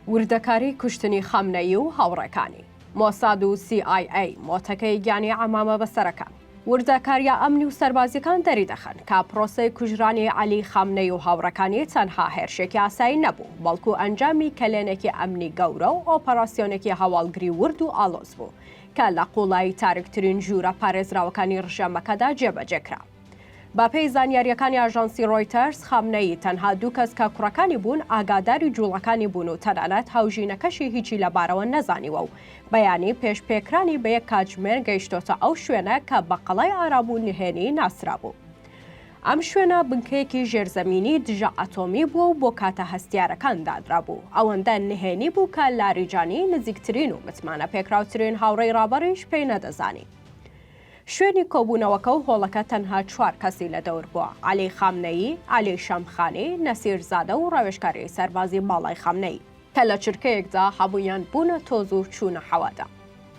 وردەکاری کوشتنی خامنەیی و هاوڕێکانی. مۆساد و سی ئای ئەی مۆتەکەی گیانی عەمامە بەسەرەکان. وردەکارییە ئەمنی و سەربازییەکان دەریدەخەن کە پرۆسەی کوژرانی عەلی خامنەیی و هاوڕێکانی تەنها هێرشێکی ئاسایی نەبوو، بەڵکو ئەنجامی کەلێنێکی ئەمنی گەورە و ئۆپەراسیۆنێکی هەواڵگری ورد و ئاڵۆز بوو کە لە قووڵایی تاریکترین ژوورە پارێزراوەکانی ڕژێمەکەدا جێبەجێکرا. بەپێی زانیارییەکانی ئاژانسی ڕۆیتەرز، خامنەیی تەنها دوو کەس کە کوڕەکانی بوون ئاگاداری جووڵەکانی بوون و تەنانەت هاوژینەکەشی هیچی لەبارەوە نەزانیوە و بەیانی پێش پێکرانی بە یەک کاتژمێر گەیشتۆتە ئەو شوێنە کە بە قەڵای ئارام و نهێنی ناسرابوو. ئەم شوێنە بنکەیەکی ژێرزەمینی دژە ئەتۆمی بووە و بۆ کاتە هەستیارەکان دانرابوو، ئەوەندە نهێنی بوو کە لاریجانی نزیکترین و متمانەپێکراوترین هاوڕێی ڕابەڕیش پێی نەدەزانی. شوێنی کۆبوونەوەکە و هۆڵەکە تەنها چوار کەسی لە دەور بووە، عەلی خامنەیی، عەلی شەمخانی، نەسیر زادە و ڕاوێژکاری سەربازی باڵای خامنەیی، کە لە چرکەیەکدا هەموویان بوونە تۆز و چوونە هەوادا.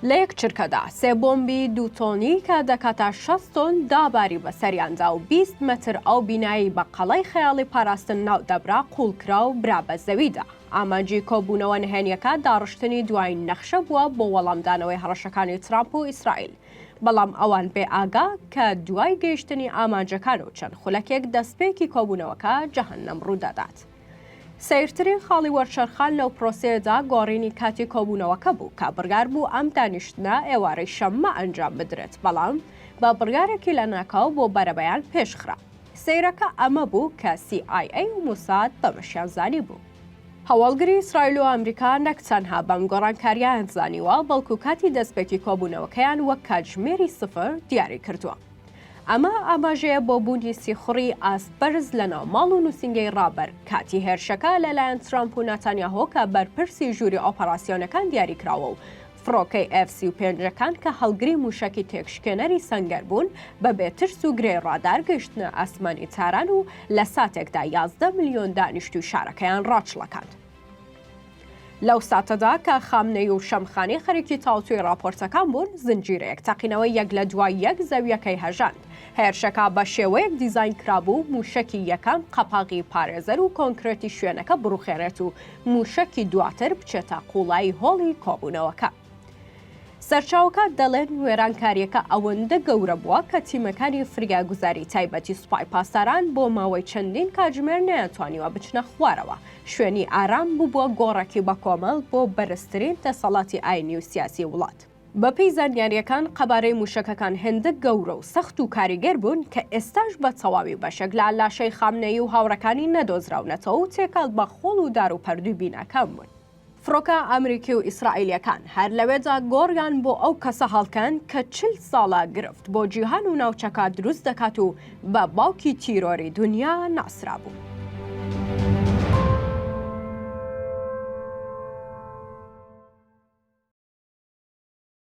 لە یەک چرکەدا سێ بۆمبی دوو تۆنی کە دەکاتە شەست تۆن داباری بەسەریاندا و بیست مەتر ئەو بینایەی بە قەڵای خەیاڵی پاراستن ناودەبرا قووڵکرا و برا بە زەویدا. ئامانجی کۆبوونەوە نهێنییەکە داڕشتنی دوایین نەخشە بووە بۆ وەڵامدانەوەی هەڕەشەکانی ترامپ و ئیسرائیل، بەڵام ئەوان بێ ئاگا کە دوای گەیشتنی ئامانجەکان و چەند خولەکێک دەستپێکی کۆبوونەوەکە جەهەننەم ڕوودەدات. سەیرترین خاڵی وەرچەرخان لەو پرۆسەیەدا گۆڕینی کاتی کۆبوونەوەکە بوو کە بڕیار بوو ئەم دانیشتنە ئێوارەی شەممە ئەنجام بدرێت، بەڵام بە بڕیارێکی لەناکاو بۆ بەرەبەیان پێشخرا. سەیرەکە ئەمە بوو کە سی ئای ئەی و موساد بەمەشیان زانیبوو. هەواڵگری ئیسرائیل و ئەمریکا نەک تەنها بەم گۆڕانکارییەیان زانیوە، بەڵکو کاتی دەستپێکی کۆبوونەوەکەیان وەک کاتژمێری سفر دیاریکردووە. ئەمە ئاماژەیە بۆ بوونی سیخوڕی ئاست بەرز لەناو ماڵ و نووسینگەی ڕابەر کاتی هێرشەکە لەلایەن ترەمپ و ناتانیاهۆ کە بەرپرسی ژووری ئۆپەراسیۆنەکان دیاریکراوە و فڕۆکەی ئێف سی و پێنج ەکان کە هەڵگری مووشەکی تێکشکێنەری سەنگەر بوون، بەبێ ترس و گرێی ڕادار گەیشتنە ئاسمانی تاران و لە ساتێکدا یازدە ملیۆن دانیشتووی شارەکەیان ڕاچڵەکاند. لەو ساتەدا کە خامنەیی و شەمخانی خەریکی تاوتوێی ڕاپۆرتەکان بوون، زنجیرەیەک تەقینەوەی یەک لە دوای یەک زەوییەکەی هەژاند. هێرشەکە بە شێوەیەک دیزاین کرابوو مووشەکی یەکەم قەپاغی پارێزەر و کۆنکرێتی شوێنەکە بڕوخێنێت و مووشەکی دواتر بچێتە قوڵایی هۆڵی کۆبوونەوەکە. سەرچاوەکان دەڵێن وێرانکارییەکە ئەوەندە گەورە بووە کە تیمەکانی فریاگوزاری تایبەتی سوپای پاسداران بۆ ماوەی چەندین کاتژمێر نەیانتوانیوە بچنە خوارەوە، شوێنی ئارام ببووە گۆڕێکی بەکۆمەڵ بۆ بەرزترین دەسەڵاتی ئاینی و سیاسی وڵات. بەپێی زانیارییەکان قەبارەی مووشەکەکان هێندە گەورە و سەخت و کاریگەر بوون کە ئێستاش بە تەواوی بەشێک لە لاشەی خامنەیی و هاوڕێکانی نەدۆزراونەتەوە و تێکەڵ بە خۆڵ و دار و پەردووی بیناکان بوون. فڕۆکە ئەمریکی و ئیسرائیلییەکان هەر لەوێدا گۆڕیان بۆ ئەو کەسە هەڵکەند کە چل ساڵە گرفت بۆ جیهان و ناوچەکە دروست دەکات و بە باوکی تیرۆری دونیا ناسرابوو.